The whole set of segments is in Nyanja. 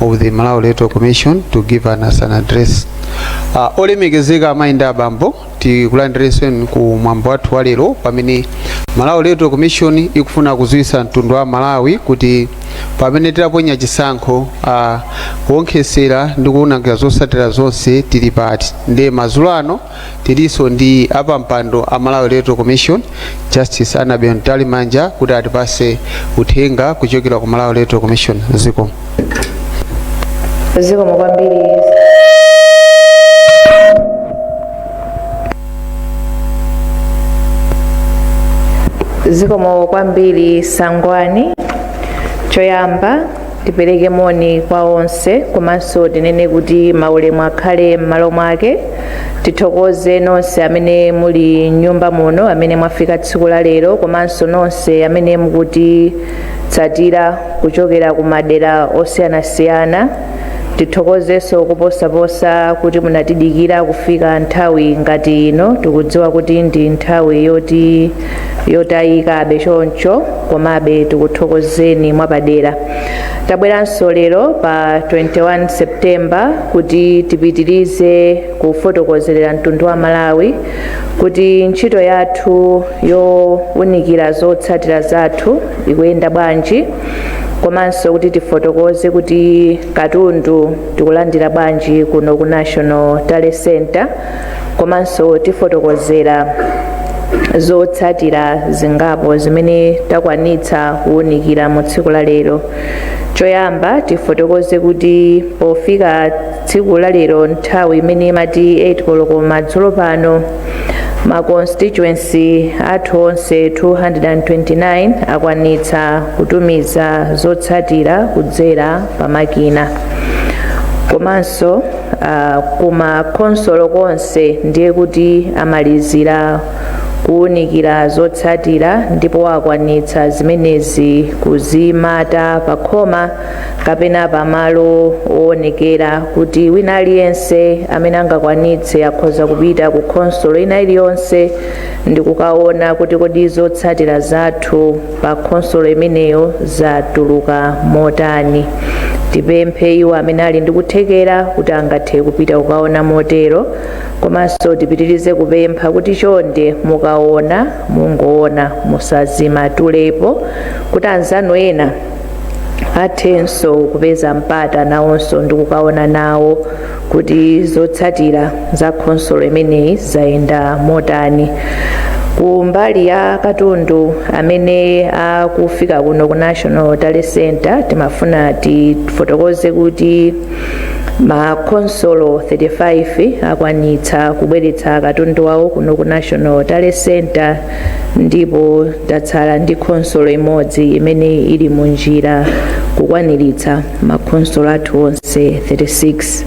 of the Malawi Electoral Commission to give us an address. Uh, olemekezeka amayi ndi abambo tikulandireseni ku mwambo wathu wa lero pamene Malawi Electoral Commission ikufuna kudziwitsa mtundu wa Malawi kuti pamene tinaponya chisankho uh, kuonkhetsera ndi kuunikira zotsatira zonse tili pati ndiye madzulo ano Tilinso ndi apampando a Malawi Electoral Commission, Justice Annabel Mtalimanja kuti atipatse uthenga kuchokera ku Malawi Electoral Commission. Zikomo. Zikomo kwambiri. Zikomo kwambiri Sangwani. Choyamba tipereke moni kwa onse komanso tinene kuti maulemu akhale m'malo mwake tithokoze nonse amene muli m'nyumba muno amene mwafika tsiku la lero komanso nonse amene mukutitsatira kuchokera ku madera osiyanasiyana tithokozenso kuposaposa kuti munatidikira kufika nthawi ngati ino tikudziwa kuti ndi nthawi yoti yotayikabe choncho komabe tikuthokozeni mwapadera tabweranso lero pa 21 septemba kuti tipitirize kufotokozerera mtundu wa malawi kuti ntchito yathu yowunikira zotsatira zathu ikuyenda bwanji komanso kuti tifotokoze kuti katundu tikulandira bwanji kuno ku national tally center komanso tifotokozera zotsatira zingapo zimene takwanitsa kuwunikira mu tsiku la lero choyamba tifotokoze kuti pofika tsiku la lero nthawi imene imati 8 koloko madzulo pano ma constituency athu onse 229 akwanitsa kutumiza zotsatira kudzera pa makina komanso uh, kuma khonsolo konse ndiye kuti amalizira kuwunikira zotsatira ndipo akwanitsa zimenezi kuzimata pakhoma kapena pamalo owonekera kuti wina aliyense amene angakwanitse akhoza kupita ku khonsolo ina iliyonse ndi kukaona kuti kodi zotsatira zathu pa khonsolo imeneyo zatuluka motani tipemphe iwo amene ali ndi kuthekera kuti angathe kupita kukaona motero komanso tipitirize kupempha kuti chonde mukaona mungoona musazimatulepo kuti anzanu ena athenso kupeza mpata nawonso ndi kukaona nawo kuti zotsatira za khonsolo imeneyi zayenda motani ku mbali ya katundu amene akufika kuno ku national tally center timafuna tifotokoze kuti makhonsolo 35 akwanitsa kubweretsa katundu wawo kuno ku national tally center ndipo tatsala ndi khonsolo imodzi imene ili mu njira kukwaniritsa makhonsolo athu onse 36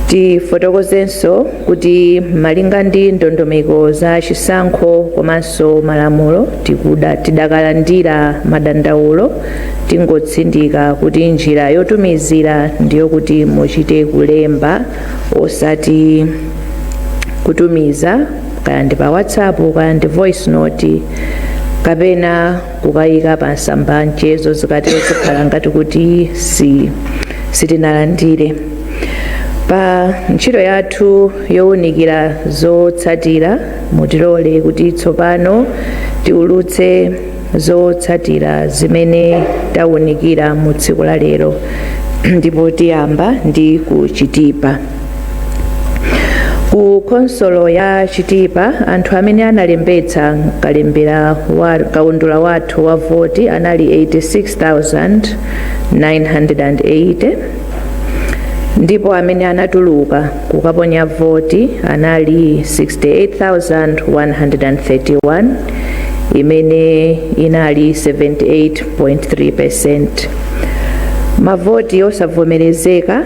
tifotokozenso kuti malinga ndi ndondomeko za chisankho komanso malamulo tidakalandira madandaulo tingotsindika kuti njira yotumizira ndiyo kuti muchite kulemba osati kutumiza kaya ndi pa whatsapp kaya ndi voice note kapena kukayika pa masamba a mchezo zikatero zikhala ngati kuti sitinalandire pa ntchito yathu yowunikira zotsatira mutilole kuti tsopano tiulutse zotsatira zimene tawunikira mu tsiku la lero ndipo tiyamba ndi ku chitipa ku khonsolo ya chitipa anthu amene analembetsa kaundula wathu wa voti anali 86980 ndipo amene anatuluka kukaponya voti anali 68131 imene inali 78.3 percent mavoti osavomerezeka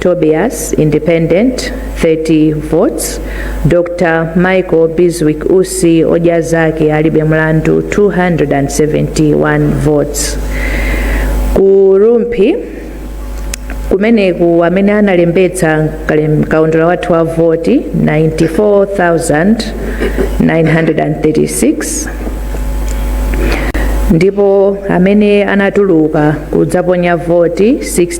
Tobias Independent 30 votes, Dr Michael Bizwick Usi odya zake alibe mlandu 271 votes. Ku Rumphi kumeneku amene analembetsa kaundula wathu wa voti 94936 ndipo amene anatuluka kudzaponya voti 60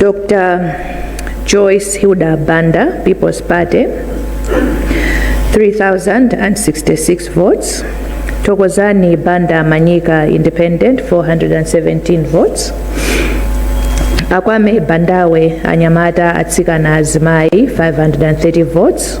Dr. Joyce Hilda Banda, People's Party, 3,066 votes. Tokozani Banda Manyika, Independent, 417 votes. Akwame Bandawe, Anyamata Atsikana Azimai, 530 votes.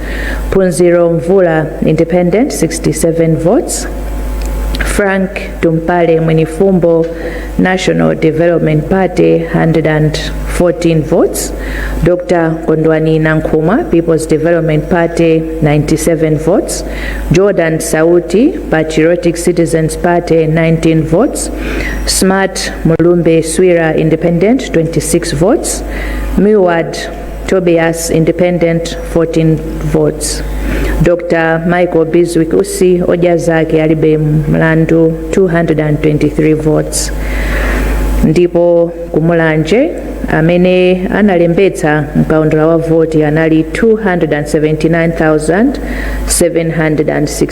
Phunziro Mvula Independent 67 votes. Frank Tumpale Mwinifumbo National Development Party 114 votes. Dr. Kondwani Nankhumwa People's Development Party 97 votes. Jordan Sauti Patriotic Citizens Party 19 votes. Smart Mulumbe Swira Independent 26 votes. Miwad Tobias Independent 14 votes. Dr. Michael Bizwick Usi odya zake alibe mlandu 223 votes. Ndipo ku Mulanje amene analembetsa mkaundula wa voti anali 279,760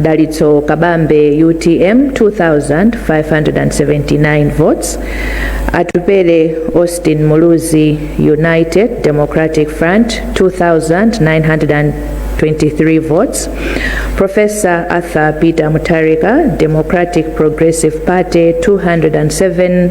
Dalitso Kabambe utm 2579 votes Atupele Austin Muluzi United Democratic Front 2923 votes Professor Arthur Peter Mutharika Democratic Progressive Party 207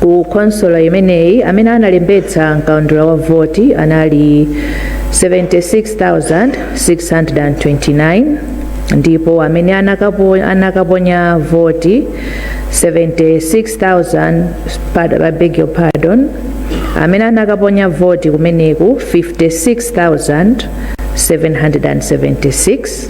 ku khonsolo imeneyi amene analembetsa mkaundula wa voti anali 76629 ndipo amene anakaponya voti 76000 I beg your pardon amene anakaponya voti kumeneku 56776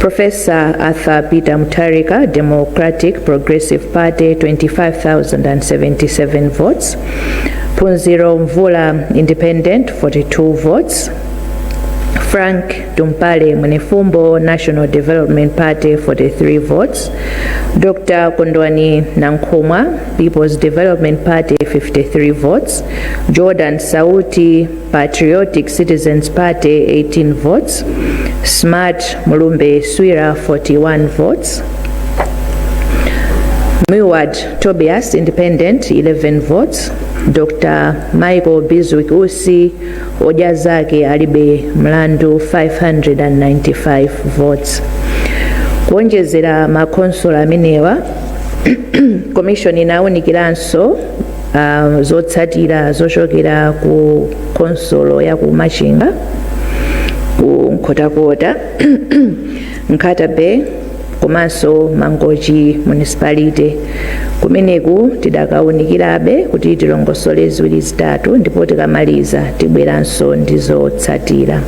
Profesa Arthur Peter Mutharika, Democratic Progressive Party, 25,077 votes. Phunziro Mvula, Independent, 42 votes. Frank Tumpale Munefumbo, National Development Party, 43 votes. Dr. Kondwani Nankhumwa, People's Development Party, 53 votes. Jordan Sauti, Patriotic Citizens Party 18 votes, Smart Mulumbe Swira 41 votes, Milward Tobias Independent 11 votes, Dr. Michael Bizwick Usi Odya Zake Alibe Mlandu 595 votes. Kuonjezera makhonsolo amenewa komishoni inawunikiranso uh, zotsatira zochokera ku khonsolo ya ku machinga ku nkhotakota nkhata bay komanso mangochi municipality kumeneku tidakaunikirabe kuti tilongosole ziwiri zitatu ndipo tikamaliza tibweranso ndi zotsatira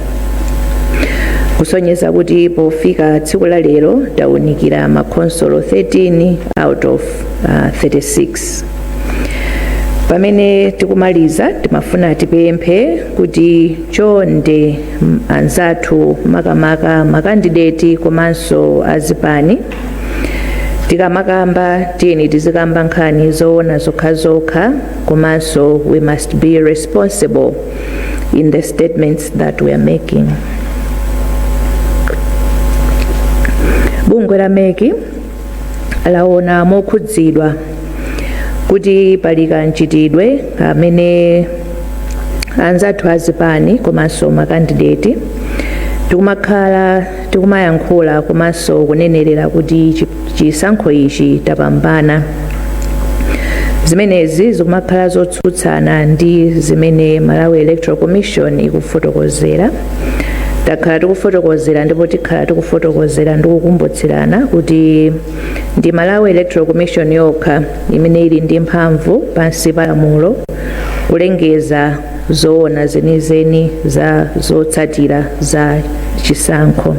kusonyeza kuti pofika tsiku la lero taunikira makhonsolo 13 out of uh, 36 pamene tikumaliza timafuna tipemphe kuti chonde m- anzathu makamaka makandideti komanso azipani tikamakamba tiyeni tizikamba nkhani zoona zokhazokha komanso we must be responsible in the statements that we are making bungwe la meki laona mokhudzidwa kuti pali kamchitidwe amene anzathu azipani komanso makandideti tikumakhala tikumayankhula komanso kunenerera kuti chi- chisankho ichi tapambana zimenezi zikumakhala zotsutsana ndi zimene malawi electoral commission ikufotokozera takhala tikufotokozera ndipo tikhala tikufotokozera ndi kukumbutsirana kuti ndi malawi electoral commission yokha imene ili ndi mphamvu pansi pa lamulo kulengeza zoona zenizeni za zotsatira za chisankho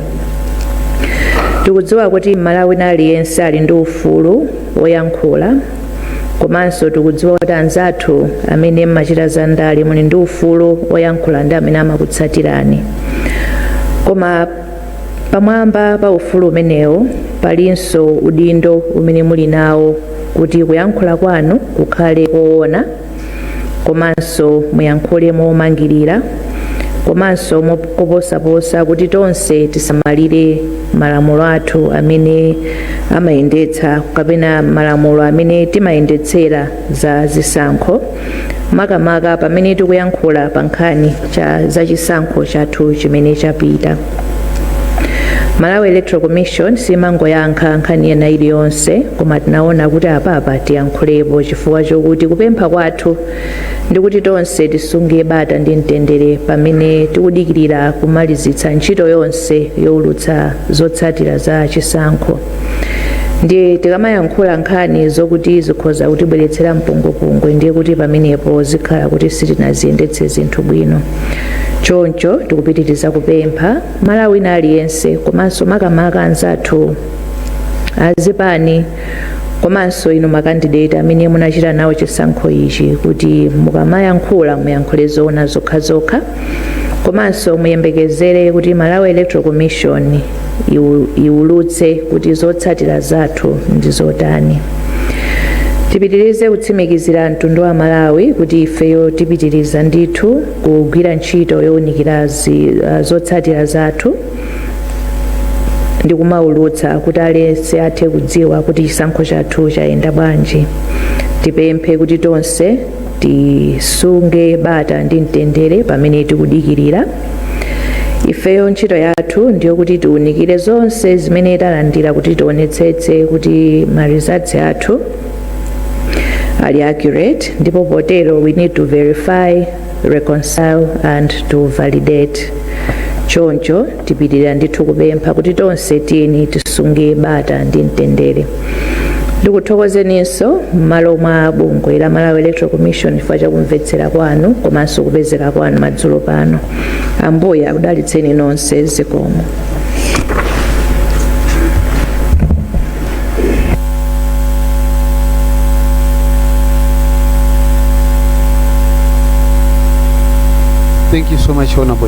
tikudziwa kuti mmalawi aliyense ali ndi ufulu woyankhula komanso tikudziwa kuti anzathu amene mmachita za ndale muli ndi ufulu woyankhula ndi amene amakutsatirani koma pamwamba pa ufulu umenewo palinso udindo umene muli nawo kuti kuyankhula kwanu kukhale koona komanso muyankhule momangirira komanso moposaposa kuti tonse tisamalire malamulo athu amene amayendetsa kapena malamulo amene timayendetsera za zisankho makamaka pamene tikuyankhula pa nkhani cha za chisankho chathu chimene chapita Malawi Electoral Commission simangoyankha nkhani ena iliyonse koma tinaona kuti apapa tiyankhulepo chifukwa chokuti kupempha kwathu ndi kuti tonse tisunge bata ndi mtendere pamene tikudikirira kumalizitsa ntchito yonse youlutsa zotsatira za chisankho. ndiye tikamayankhula nkhani zokuti zikhoza kutibweretsera mpungwepungwe ndiye kuti pamenepo zikhala kuti sitinaziyendetse zinthu bwino choncho tikupitiriza kupempha Mmalawi wina aliyense komanso makamaka anzathu azipani komanso inu makandideti amene munachita nawo chisankho ichi kuti mukamayankhula muyankhule zoona zokhazokha komanso muyembekezere kuti malawi electoral commission iwu- iwulutse kuti zotsatira zathu ndi zotani tipitirize kutsimikizira mtundu wa a Malawi kuti ifeyo tipitiriza ndithu kugwira ntchito yowunikira zi- ah, zotsatira zathu ndi kumaulutsa kuti aliyense athe kudziwa kuti chisankho chathu chayenda bwanji tipemphe kuti tonse tisunge bata ndi mtendere pamene tikudikirira ifeyo ntchito yathu ndi yokuti tiunikire zonse zimene talandira kuti tionetsetse kuti ma results athu ali accurate ndipo potero we need to verify reconcile and to validate choncho tipitirira ndithu kupempha kuti tonse tiyeni tisunge bata ndi mtendere ndikuthokozeninso m'malo mwa bungwe la malawi electoral commission chifukwa chakumvetsera kwanu komanso kupezeka kwanu madzulo pano ambuye akudalitseni nonse zikomo Thank you so much, Honorable.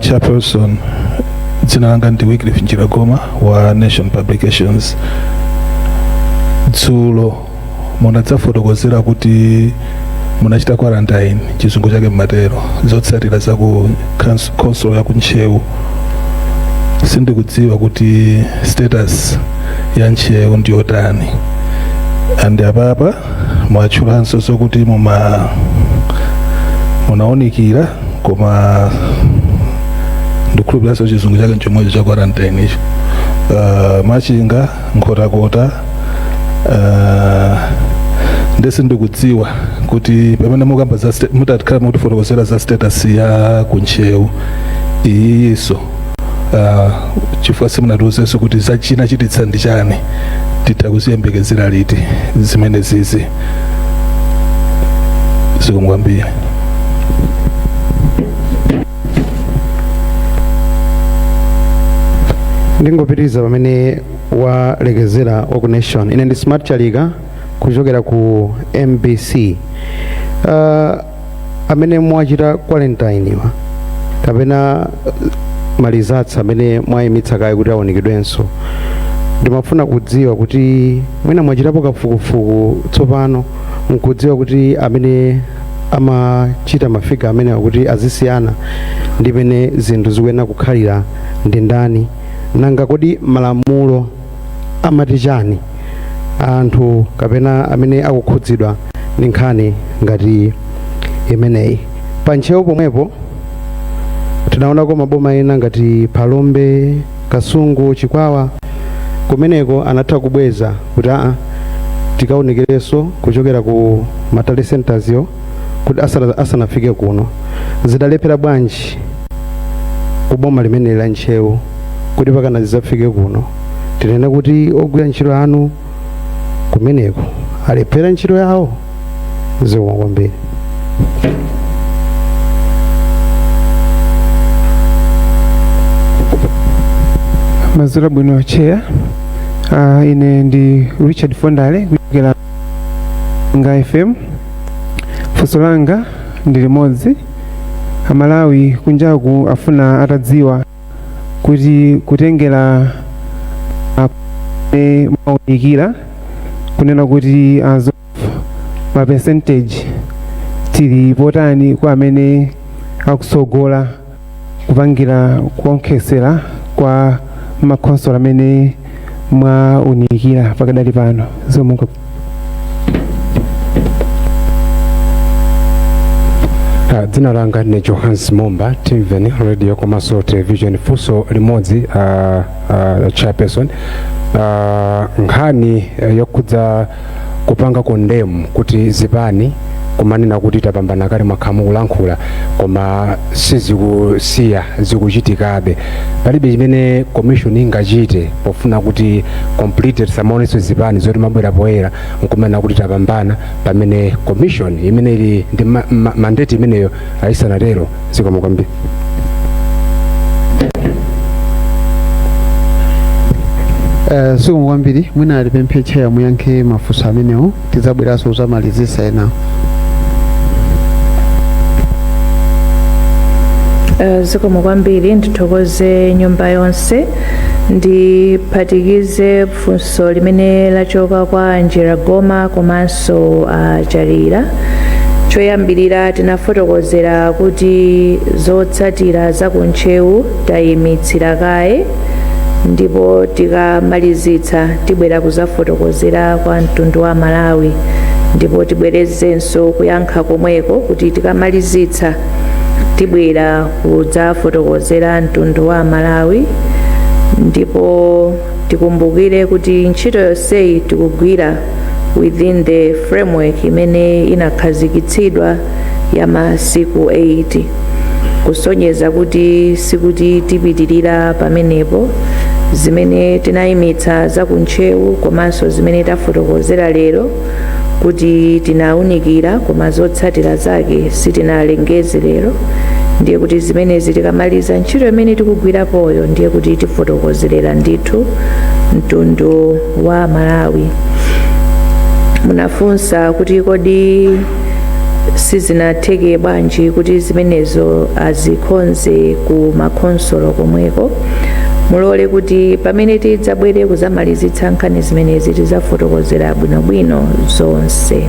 chairperson dzina langa ndi Wycliffe Njiragoma wa Nation Publications dzulo munadzafotokozera kuti munachita quarantine chizungu chake mmatero zotsatira za ku couns- council ya kuntcheu sindikudziwa kuti status ya ntcheu ndiyotani and apapa mwatchulanso zokuti muma munaonikira koma ndikhulupiranso chizungu chake nchomwecho cha quarantine icho uh, machinga nkhotakota uh, ndiyesa ndikudziwa kuti pamene mukamba za sta- mutakhala mutifotokozera za status ya kuntcheu iyiso uh, chifukwa simunatiuzenso kuti zachina chachititsa ndi chani titha kuziyembekezera liti zimene zizi zikomo kwambiri ndingopitiriza pamene walekezera wa ku nation ine ndi smart chalika kuchokera ku mbc uh, amene mwachita quarantine-wa kapena ma results amene mwayimitsa kaye kuti aonekedwenso ndimafuna kudziwa kuti mwina mwachitapo kafukufuku tsopano nkudziwa kuti amene amachita ma figure amenewa kuti azisiyana ndi mmene zinthu zikuyenera kukhalira ndi ndani nanga kodi malamulo amati chani anthu kapena amene akukhudzidwa ndi nkhani ngati imeneyi pa ntcheu pomwepo tinaonako maboma ena ngati phalombe kasungu chikwawa kumeneko anatha kubweza kuti aa tikaonkherenso kuchokera ku ma tally centers-wo kuti asana- asanafike kuno zidalephera bwanji kuboma limeneli la ntcheu kuti mpakana zizafike kuno tinene kuti ogwira ntchito anu kumeneko alephera ntchito yawo zikomo kwambiri mwaswera bwanji a chair uh, ine ndi richard fondale kuchokera ku ga fm funso langa ndi limodzi amalawi kunjaku afuna atadziwa kuti kutengera mmene mwaunikira kunena kuti as of ma percentage tili potani kwa amene akutsogola kupangira kuonkhetsera kwa makhonsolo amene mwaunikira pakadali pano zikomo kwambiri Ah, dzina langa ndine johannes momba timveni radio komanso television funso limodzi ah, ah, chairperson Ah, nkhani eh, yokhudza kupanga condemn kuti zipani kumanena kuti tapambana kale mwakhala mukulankhula koma sizikusiya zikuchitikabe palibe chimene commission ingachite pofuna kuti completely tisamaonenso zipani zoti zimabwera poyera nkumanena kuti tapambana pamene commission imene ili ndi ma, ma, mandate imeneyo ayisanatero zikomo kwambiri Eh, zikomo kwambiri mwina tipemphe cheya muyankhe mafunso amenewo tizabweranso kuzamalizisa enawo Eh, zikomo kwambiri ndithokoze nyumba yonse ndiphatikize funso limene lachoka kwa Angela Goma komanso a Chalira choyambirira tinafotokozera kuti zotsatira za ku Ntcheu tayimitsira kaye ndipo tikamalizitsa tibwera kuzafotokozera kwa mtundu wa Amalawi ndipo tibwerezenso kuyankha komweko kuti tikamalizitsa tibwera kudzafotokozera mtundu wa Amalawi ndipo tikumbukire kuti ntchito yonseyi tikugwira within the framework imene inakhazikitsidwa ya masiku 8 kusonyeza kuti sikuti tipitirira pamenepo zimene tinayimitsa za kuntcheu komanso zimene tafotokozera lero kuti tinaunikira koma zotsatira zake sitinalengeze lero ndiye kuti zimenezi tikamaliza ntchito imene tikugwirapoyo ndiye kuti tifotokozerera ndithu mtundu wa malawi munafunsa kuti kodi sizinatheke bwanji kuti zimenezo azikhonze ku makhonsolo komweko mulole kuti pamene tidzabwere kuzamalizitsa nkhani zimenezi tizafotokozera bwinobwino zonse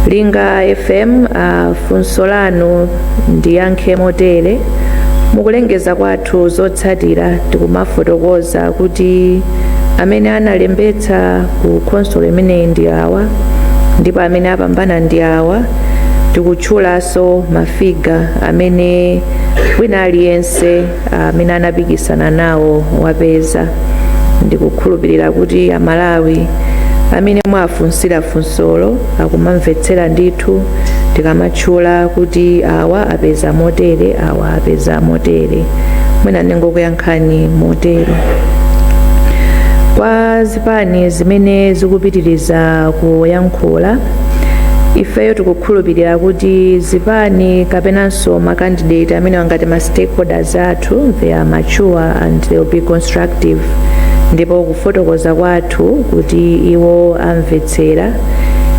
linga fm uh, funso lanu ndiyankhe motere mukulengeza kwathu zotsatira tikumafotokoza kuti amene analembetsa ku khonsolo imeneyi ndi awa ndipo amene apambana ndi awa tikutchulanso mafiga amene wina aliyense amene anapikisana nawo wapeza ndikukhulupirira kuti amalawi amene mwafunsira funsolo akumamvetsera ndithu tikamatchula kuti awa apeza motere awa apeza motere mwina ndingokuyankhani motero kwa zipani zimene zikupitiriza kuyankhula ifeyo tikukhulupirira kuti zipani kapenan so ma candidate amenewa ngati ma stakeholders athu they are mature and they will be constructive ndipo kufotokoza kwathu kuti iwo amvetsera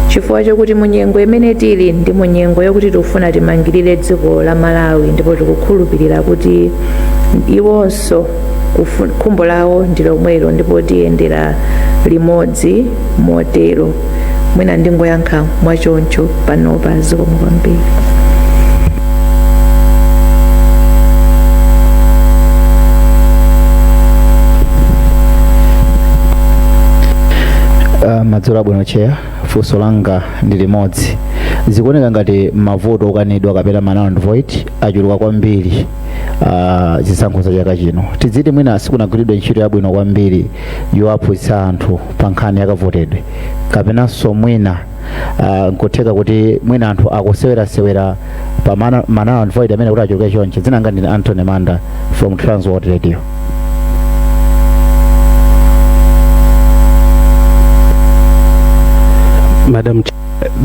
chifukwa chokuti munyengo imene tili ndi munyengo yokuti tikufuna timangirire dziko la malawi ndipo tikukhulupirira kuti iwonso so kufu- khumbo lawo ndi lomwelo ndipo tiyendera limodzi motero mwina ndingoyankha mwachoncho panopa zikomo kwambiri Uh, madzulo abwino cheya funso langa ndi limodzi zikuoneka ngati mavoti okanidwa kapena ma null and void achuluka kwambiri ah, zisankho za chaka chino tidziti mwina sikunagwiridwe ntchito yabwino kwambiri yowaphunzitsa anthu pa nkhani yakavotedwe kapenanso mwina ah, nkutheka kuti mwina anthu akusewerasewera pa ma na- ma null and void amene kuti achuluke chonchi dzina langa ndine Anthony Manda from Transworld Radio madam Ch-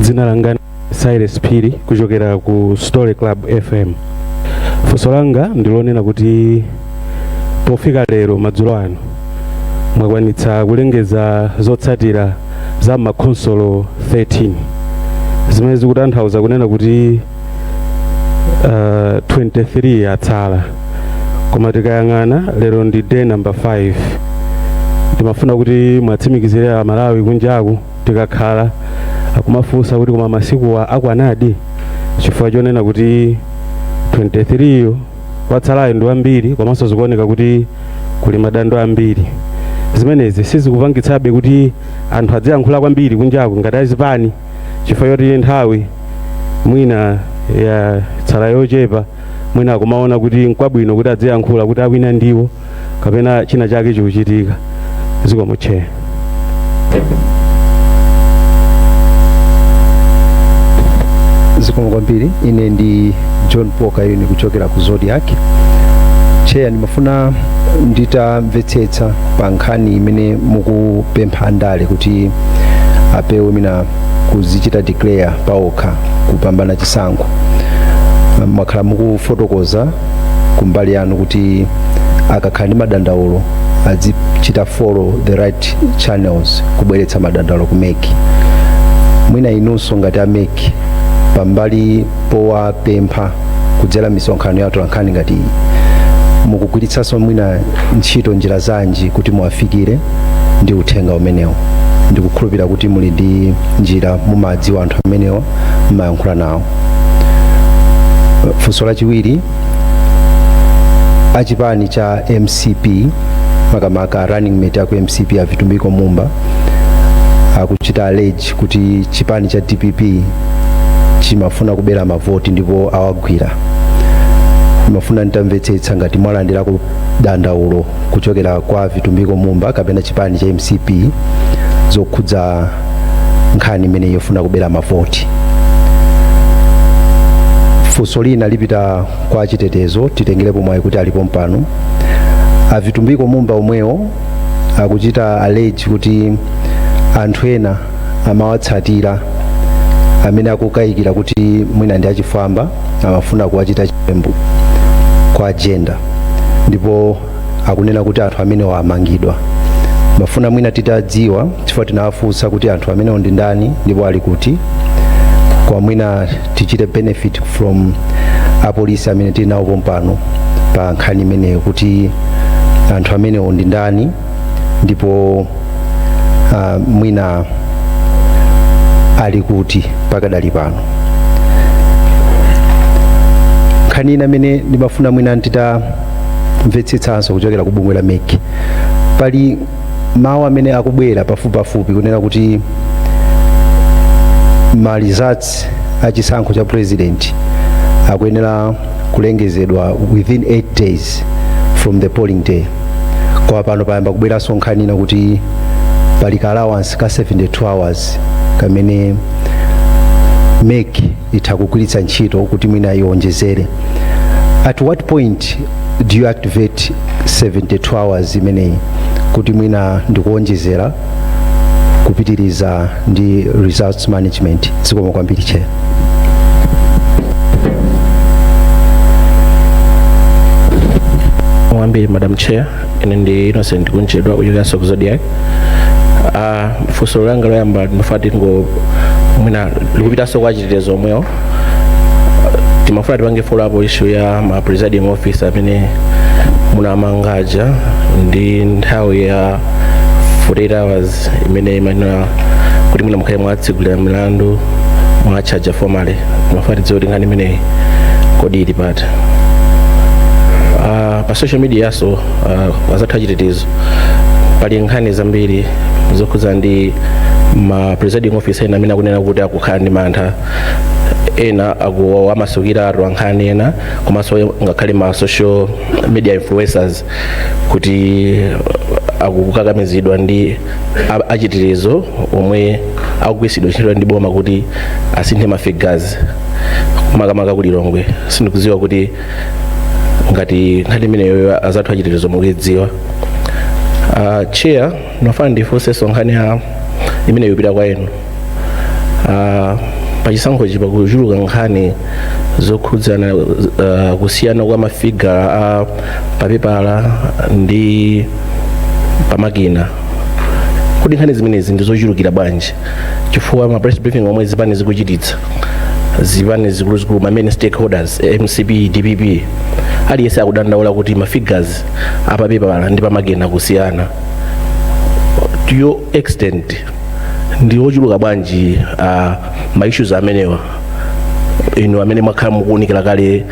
dzina langa Cyrus Phiri kuchokera ku Story Club FM. Funso langa ndilonena kuti pofika lero madzulo ano mwakwanitsa kulengeza zotsatira za makhonsolo 13 zimene zikutanthauza kunena kuti uh, 23 atsala koma tikayang'ana lero ndi day number 5 timafuna kuti mwatsimikizire amalawi kunjaku tikakhala akumafunsa kuti koma masikuwa akwanadi chifukwa chonena kuti 23 yo watsalayo ndi wambiri komanso zikuoneka kuti kuli madando ambiri zimenezi sizikupangitsabe kuti anthu adziyankhula kwambiri kunjaku ngati azipani chifukwa choti nthawi mwina yatsala yochepa mwina akumaona kuti nkwabwino kuti adziyankhula kuti awina ndiwo kapena china chake chikuchitika zikomo cheya zikomo kwambiri ine ndi John Paul Kayuni kuchokera ku Zodiak cheya ndimafuna nditamvetsetsa pa nkhani imene mukupempha andale kuti apewe mwina kudzichita declare paokha kupambana chisankho mwakhala mukufotokoza kumbali yanu kuti akakhala ndi madandaulo azichita follow the right channels kubweretsa madandaulo ku MEC mwina inunso ngati a MEC pambali powapempha kudzera misonkhano ya atolankhani ngati iyi mukugwiritsanso mwina ntchito njira zanji kuti muwafikire ndi uthenga umenewo ndikukhulupirira kuti muli ndi njira mumadziwa anthu amenewa mumayankhula nawo funso lachiwiri achipani cha mcp makamaka running mate aku mcp a vitumbiko mumba akuchita allege kuti chipani cha dpp chimafuna kubera mavoti ndipo awagwira ndimafuna nditamvetsetsa ngati mwalandirako dandaulo kuchokera kwa vitumbiko mumba kapena chipani cha mcp zokhudza nkhani imeneyi yofuna kubera mavoti funso lina lipita kwa achitetezo titengerepo mwayi kuti alipo pompano a vitumbiko mumba omwewo akuchita allege kuti anthu ena amawatsatira amene akukayikira kuti mwina ndi achifwamba amafuna kuwachita chiwembu kuwagenda ndipo akunena kuti anthu amenewa amangidwa mafuna mwina titadziwa chifukwa tinawafunsa kuti anthu amenewo ndi ndani ndipo ali kuti koma mwina tichite benefit from apolisi amene tili nawo pompano pa nkhani imeneyo kuti anthu amenewo ndi ndani ndipo ah, mwina ali kuti pakadali pano nkhani ina imene ndimafuna mwina ndita mvetsetsanso kuchokera ku bungwe la mec pali mawu amene akubwera pafupipafupi kunena kuti ma results a chisankho cha president akuyenera kulengezedwa within 8 days from the polling day koma pano payamba kubweranso nkhani ina kuti pali ka allowance ka 72 hours kamene mec itha kugwiritsa ntchito kuti mwina iwonjezere at what point do you activate 72 hours imeneyi kuti mwina nkuwonjezera kupitiriza ndi results management zikomo kwambiri chair kwambiri madam chair ine ndi innocent kunchedwa kuchokera ku zodiak Ah, funso langa loyamba ndimafuna tingo mwina likupitanso kwa achitetezo omwewo timafuna tipange follow up issue ya ma presiding officer amene munamanga aja ndiye nthawi ya 48 hours imene imanena kuti mwina mukhale mwawatsegulira milandu mwawatchaja formally timafuna tidziwe kuti nkhani imeneyi kodi ili pati pa social media pano uh, azathu achitetezo pali nkhani zambiri zokhudzana ndi ma presiding officer ena amene akunena kuti akukhala ndi mantha ena akumasukira atolankhani ena komanso ngakhale ma social media influencers kuti akukakamizidwa ndi a- achitetezo omwe akugwiritsidwa ntchito ndi boma kuti asinthe mafigazi makamaka ku lilongwe sindikudziwa kuti ngati nkhani imeneyo azathu achitetezo mukuidziwa uh, chair ndimafuna ndifunsenso nkhani imeneyo ipita kwa inu uh, pachisankhochi pakuchuluka nkhani zokhudzana uh, kusiyana kwa mafigala a papepala ndi pamakina kodi nkhani zimenezi ndizochulukira bwanji chifukwa ma press briefing omwe zipani zikuchititsa zipani zikuluzikulu ma main stakeholders eh, mcp dpp aliyense akudandaula kuti ma figures apapepala ndi pamakina kusiyana to what extent ndi ochuluka bwanji uh, ma issues amenewa inu amene mwakhala mukuunikira kale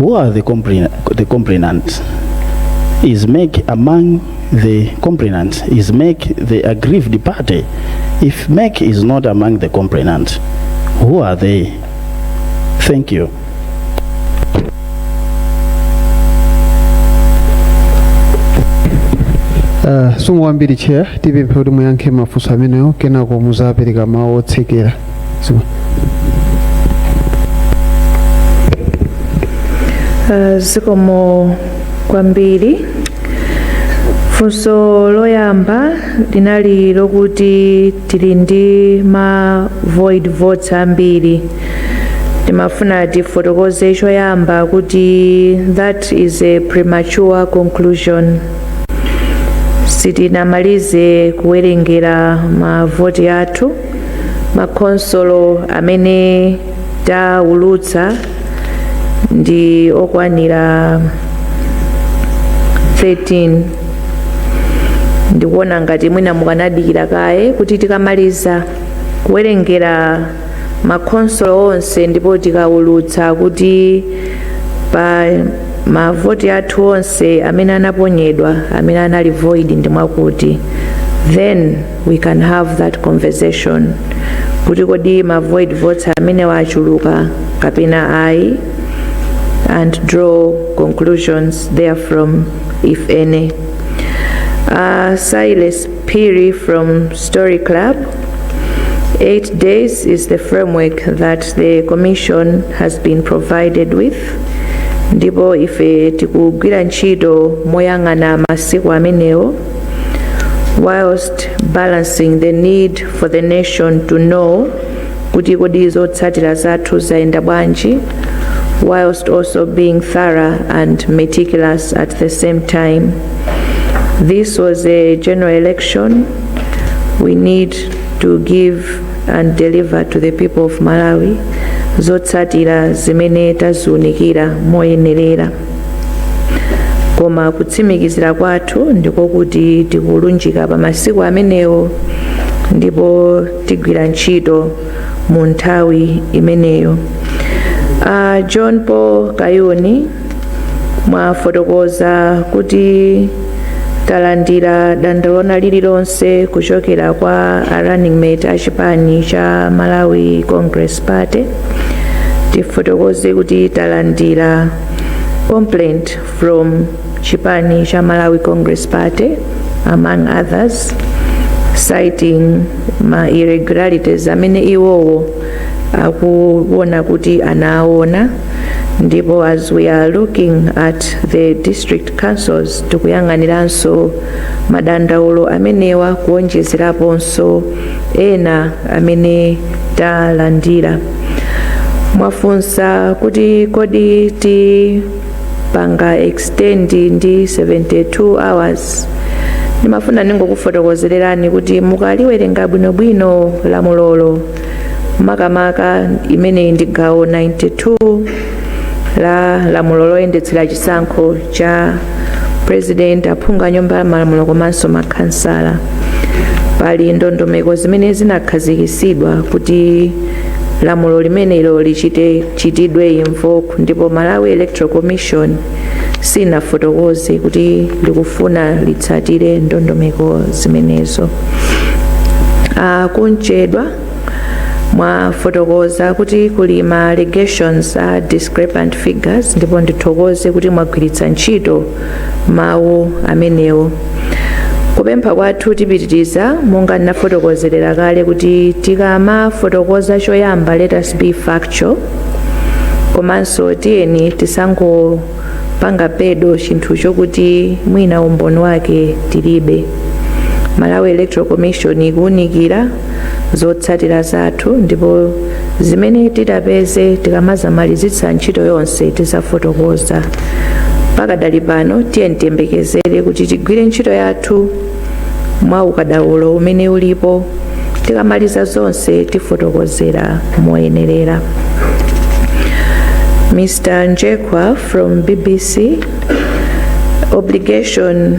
Who are the, compli the complainants? Is MEC among the complainants is MEC the aggrieved party. If MEC is not among the complainants, who are they? Thank you. Uh, zikomo kwambiri chair tipemphe kuti muyankhe mafunso amenewo kenako muzapereka mawu otsekera Uh, zikomo kwambiri funso loyamba linali lokuti tili ndi ma void votes ambiri timafuna tifotokoze choyamba kuti that is a premature conclusion sitinamalize kuwerengera mavoti athu makhonsolo amene taulutsa ndi okwanira 13 ndikuona ngati mwina mukanadikira kaye kuti tikamaliza kuwerengera makhonsolo onse ndipo tikaulutsa kuti pa mavoti athu onse amene anaponyedwa amene anali void ndi mwakuti then we can have that conversation kuti kodi ma void votes amenewa achuluka kapena ayi and draw conclusions therefrom if any uh, silas phiri from story club eight days is the framework that the commission has been provided with ndipo ife tikugwira ntchito moyang'ana masiku amenewo whilst balancing the need for the nation to know kuti kodi zotsatira zathu zayenda bwanji whilst also being thorough and meticulous at the same time this was a general election we need to give and deliver to the people of malawi zotsatira zimene taziunikira moyenerera koma kutsimikizira kwathu ndiko kuti tikulunjika pa masiku amenewo ndipo tigwira ntchito mu nthawi imeneyo uh, john paul kayuni mwafotokoza kuti talandira dandaulo lina lililonse kuchokera kwa a running mate a chipani cha malawi congress party tifotokoze kuti talandira complaint from chipani cha malawi congress party among others citing ma irregularities amene iwowo akuona kuti anaona ndipo as we are looking at the district councils tikuyang'aniranso madandaulo amenewa kuonjezeraponso ena amene talandira mwafunsa kuti kodi tipanga extend ndi 72 hours ndimafuna ndingokufotokozererani kuti mukaliwerenga bwinobwino lamulolo makamaka imeneyi ndi gawo 92 la lamulo loyendetsera chisankho cha president aphungu a nyumba ya malamulo komanso makhansala pali ndondomeko zimene zinakhazikitsidwa kuti lamulo limenelo lichitechitidwe invoke ndipo malawi electoral commission sinafotokoze kuti likufuna litsatire ndondomeko zimenezo uh, kunchedwa mwafotokoza kuti kuli ma allegations a discrepant figures ndipo ndithokoze kuti mwagwiritsa ntchito mawu amenewo kupempha kwathu tipitiriza monga ndinafotokozerera kale kuti tikamafotokoza choyamba let us be factual komanso tiyeni tisangopanga peddle chinthu chokuti mwina umboni wake tilibe malawi electoral commission ikuwunikira zotsatira zathu ndipo zimene titapeze tikamazamalizitsa ntchito yonse tizafotokoza pakadali pano tiyeni tiyembekezere kuti tigwire ntchito yathu mwa ukadaulo umene ulipo tikamaliza zonse tifotokozera moyenerera mr njekwa from bbc obligation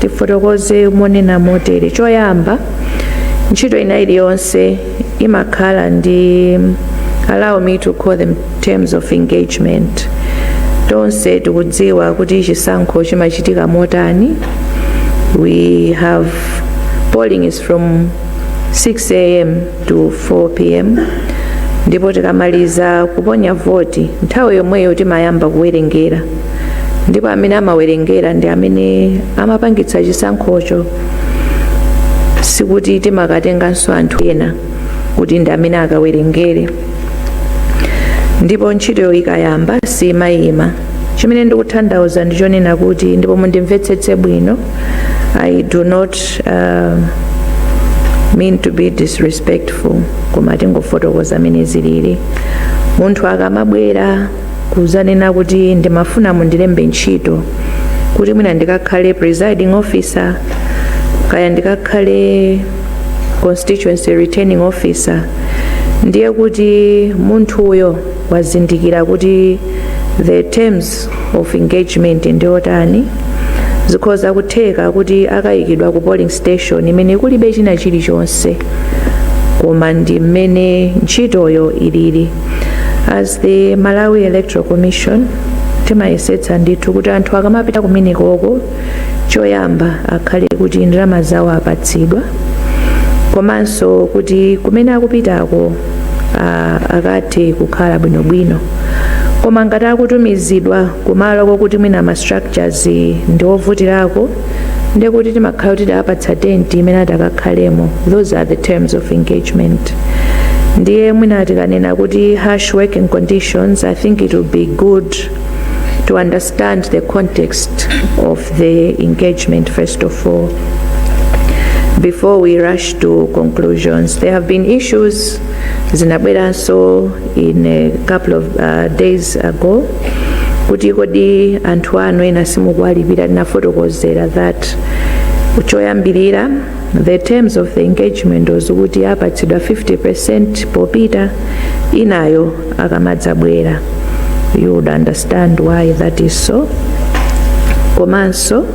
tifotokoze ponena motere choyamba ntchito ina iliyonse imakhala ndi allow me to call them terms of engagement tonse tikudziwa kuti chisankho chimachitika motani we have polling is from 6 am to 4 pm ndipo tikamaliza kuponya voti nthawi yomweyo timayamba kuwerengera ndipo amene amawerengera ndi amene amapangitsa chisankhocho sikuti timakatenganso anthu ena kuti ndi amene akawerengere ndipo ntchitoyo ikayamba simayima chimene ndikutanthauza ndi chonena kuti ndipo mundimvetsetse bwino i do not uh, mean to be disrespectful koma tingofotokoza mmene zilili munthu akamabwera kudzanena kuti ndimafuna mundilembe ntchito kuti mwina ndikakhale presiding officer kaya ndikakhale constituency returning officer ndiye kuti munthuyo wazindikira kuti the terms of engagement ndiotani zikhoza kutheka kuti akayikidwa ku polling station imene kulibe china chilichonse koma ndi mmene ntchitoyo ilili as the malawi electoral commission timayesetsa ndithu kuti anthu akamapita kumenekoko choyamba akhale kuti ndalama zawo apatsidwa komanso kuti kumene akupitako ah, akathe kukhala bwinobwino koma ngati akutumizidwa kumalo kokuti mwina ma structures ndi ovutirako ndiye kuti timakhala kuti tawapatsa tenti imene atakakhalemo those are the terms of engagement ndiye mwina tikanena kuti harsh working conditions i think it would be good to understand the context of the engagement first of all before we rush to conclusions there have been issues zinabweranso in a couple of uh, days ago kuti kodi anthu anu ena simukuwalipira tinafotokozera that choyambirira the terms of the engagement was kuti apatsidwa 50 percent popita inayo akamadzabwera you would understand why that is so komanso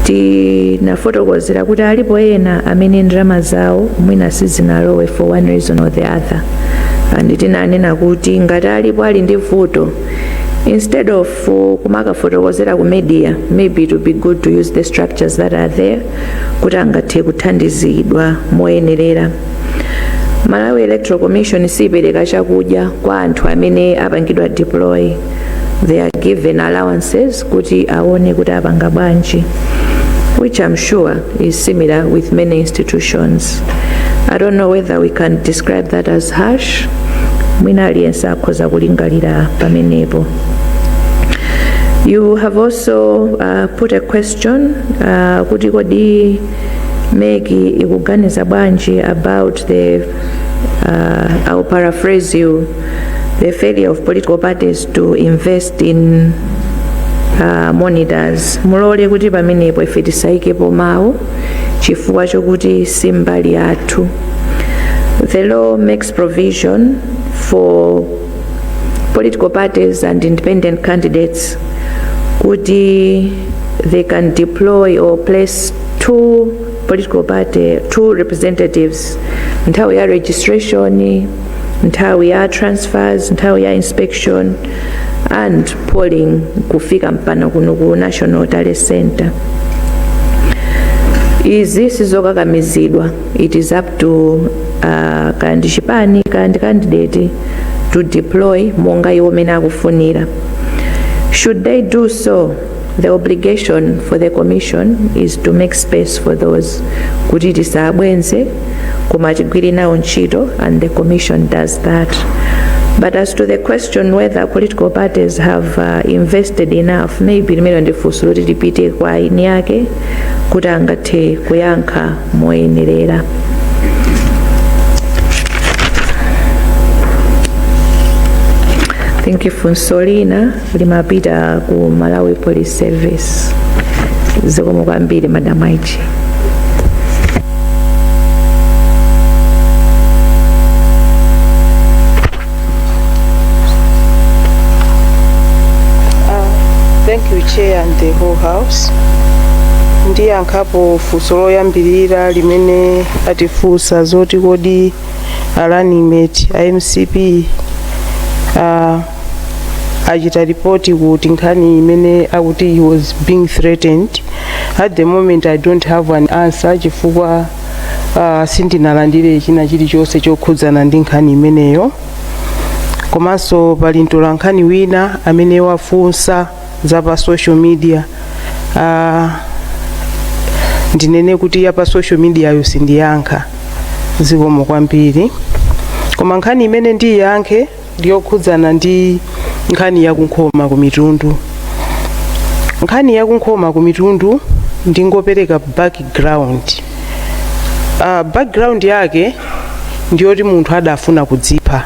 tinafotokozera kuti alipo ena amene ndalama zawo mwina sizinalowe for one reason or the other and tinanena kuti ngati alipo ali ndi vuto instead of uh, kumakafotokozera ku media maybe it would be good to use the structures that are there kuti angathe kuthandizidwa moyenerera malawi electoral commission siipereka chakudya kwa anthu amene apangidwa deploy they are given allowances kuti aone kuti apanga bwanji which I'm sure is similar with many institutions. I don't know whether we can describe that as harsh. Mwina aliyense akhoza kulingalira pamenepo. You have also uh, put a question uh, kuti kodi meki ikuganiza bwanji about the uh, I'll paraphrase you the failure of political parties to invest in uh, monitors mulole kuti pamenepo ife tisaikepo mawu chifukwa chokuti si mbali yathu the law makes provision for political parties and independent candidates kuti they can deploy or place two political party two representatives nthawi ya registration nthawi ya transfers nthawi ya inspection and polling kufika mpana kuno ku national tally center izi sizokakamizidwa it is up to uh, kaya ndi chipani kaya ndi candidate to deploy monga iwo mene akufunira should they do so the obligation for the commission is to make space for those kuti tisawabwenze koma tigwire nawo ntchito and the commission does that but as to the question whether political parties have uh, invested enough maybe limenelo ndi funso loti lipite kwa eni ake kuti angathe kuyankha moyenerera thank you funso lina limapita ku malawi police service zikomo kwambiri madam IG Thank you, Chair and the whole house. Ndiyankhapo funso loyambirira limene atifunsa zoti kodi a running mate a MCP ah, achita ripoti kuti nkhani imene akuti he was being threatened at the moment i don't have an answer chifukwa uh, sindinalandire china chilichonse chokhudzana ndi nkhani imeneyo komanso pali mtolankhani wina amene wafunsa za pa social media uh, ndinene kuti ya pa social media yo sindiyankha zikomo kwambiri koma nkhani imene ndiyankhe ndi yokhudzana ndi nkhani ya kunkhoma ku mitundu nkhani ya kunkhoma ku mitundu ndingopereka background uh, background yake ndiyoti munthu adafuna kudzipha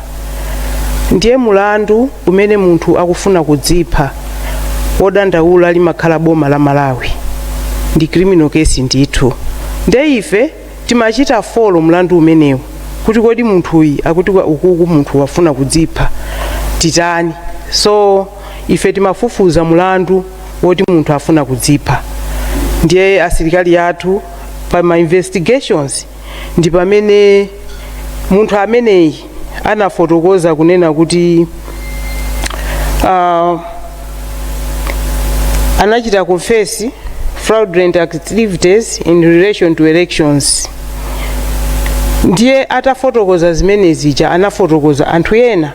ndiye mulandu umene munthu akufuna kudzipha wodandaula limakhala boma la malawi ndi criminal case ndithu nde ife Timachita follow mulandu umenewu kuti kodi munthuyi akuti kwa- ukuku munthu wafuna kudzipha titani. So ife timafufuza mulandu woti munthu afuna kudzipha ndiye asilikali athu pa ma investigations ndi pamene munthu ameneyi anafotokoza kunena kuti uh, anachita confess fraudulent activities in relation to elections ndiye atafotokoza zimene zija anafotokoza anthu ena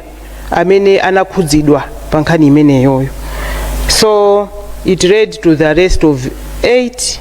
amene anakhudzidwa pa nkhani imeneyoyo so it led to the arrest of eight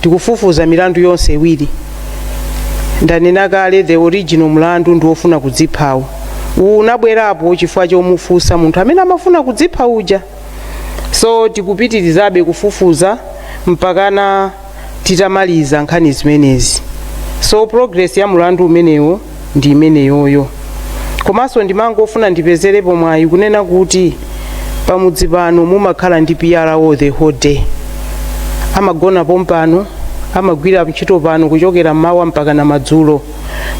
Tikufufuza milandu yonse iwiri. Ndanena kale the original mulandu ndi wofuna kudziphawu. Uwu unabwerapo chifukwa chomufunsa munthu amene amafuna kudzipha uja. So tikupitirizabe kufufuza mpakana titamaliza nkhani zimenezi. So progress ya mulandu umenewo ndi imeneyoyo komanso ndimangofuna ndipezerepo mwayi kunena kuti pamudzi pano mumakhala ndi PRO the whole day amagona pompano amagwira ntchito pano kuchokera mmawa mpaka na madzulo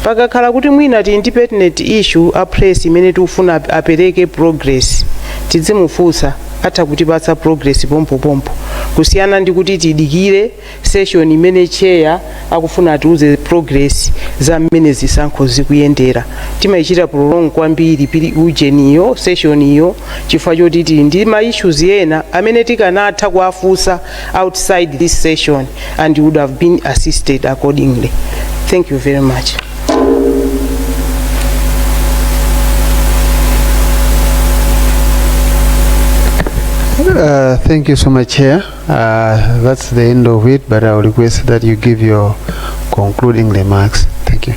pakakhala kuti mwina tili ndi pertinent issue a press imene tikufuna ap- apereke progress tidzimufunsa atha kutipatsa progress pompopompo kusiyana ndi kuti tidikire session imene chair akufuna atiuze progress za mmene zisankho zikuyendera timayichita prolong kwambiri pulinali ujeniyo session iyo chifukwa choti tili ndi ma issues ena amene tikanatha kuwafunsa outside this session and would have been assisted accordingly thank you very much Uh, thank you so much, Chair. Uh, that's the end of it, but I'll request that you give your concluding remarks. Thank you.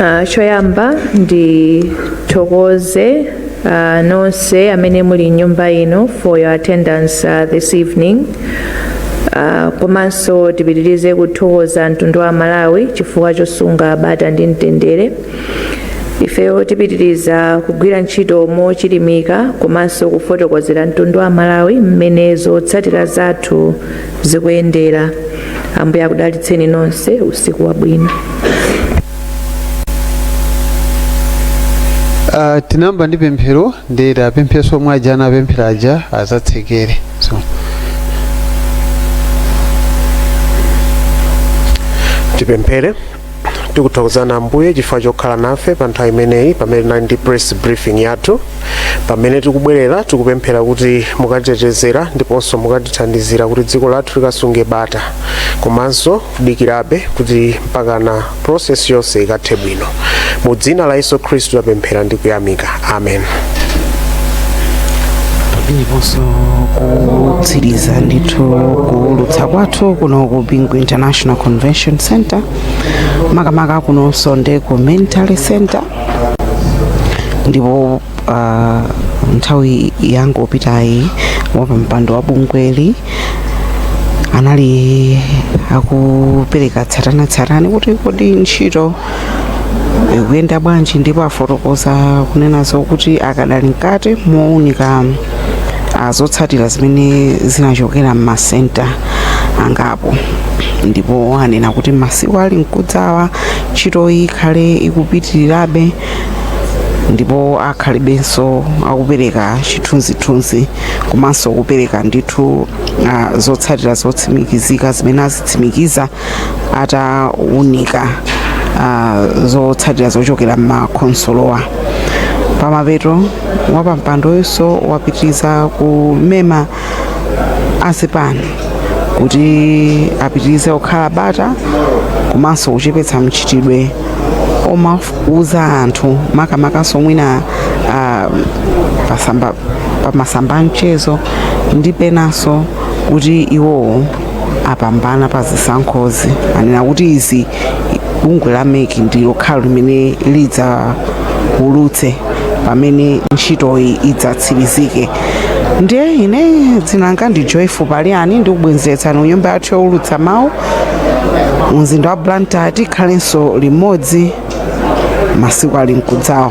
Uh, choyamba ndithokoze uh, nonse amene muli m'nyumba ino for your attendance uh, this evening uh, komanso tipitirize kuthokoza mtundu wa amalawi chifukwa chosunga bata ndi mtendere ifeyo tipitiriza kugwira ntchito mochilimika komanso kufotokozera mtundu wa amalawi mmene zotsatira zathu zikuyendera ambuye akudalitseni nonse usiku wabwino Uh, tinayamba ndi pemphero ndiye atipemphererenso omwe aja anapemphera aja azatsekere so tipemphere tikuthokozani ambuye chifukwa chokhala nafe pa nthawi imeneyi pamene tinali ndi press briefing yathu pamene tikubwerera tikupemphera kuti mukatitetezera ndiponso mukatithandizira kuti dziko lathu likasunge bata komanso kudikirabe kuti mpakana process yonse ikathe bwino mu dzina la yesu khristu tapemphera ndi kuyamika amen pameneponso kutsiriza ndithu kuulutsa kwathu kuno ku bingu international convention center makamaka kunonso ndi ku main tally center ndipo uh, nthawi yangopitayi wapampando wa bungweli anali akupereka tsatanetsatane kuti kodi ntchito ikuyenda bwanji ndipo afotokoza kunena zokuti akadali mkati mowunika ah, zotsatira zimene zinachokera m'masenta angapo ndipo anena kuti masiku ali mkudzawa ntchitoyi ikhale ikupitirirabe ndipo akhalibenso akupereka chithunzithunzi komanso kupereka ndithu ah, zotsatira zotsimikizika zimene azitsimikiza ataunika uh, zotsatira zochokera m'makonsolowa pamapeto wapampandoyunso wapitiriza kumema azipani kuti apitirize kukhala bata komanso kuchepetsa mchitidwe omauza anthu makamakanso mwina uh, pasamba pamasamba a mchezo ndi penanso kuti iwowo apambana pa zisankhozi anena kuti izi bungwe la mec ndi lokhalo limene lidzaulutse pamene ntchitoyi idzatsirizike ndiye ine dzina langa ndi joyful paliani ndikubwenzeretsani ku nyumba yathu youlutsa mawu mu mzinda wa blantyre tikhalenso limodzi masiku ali mkudzawa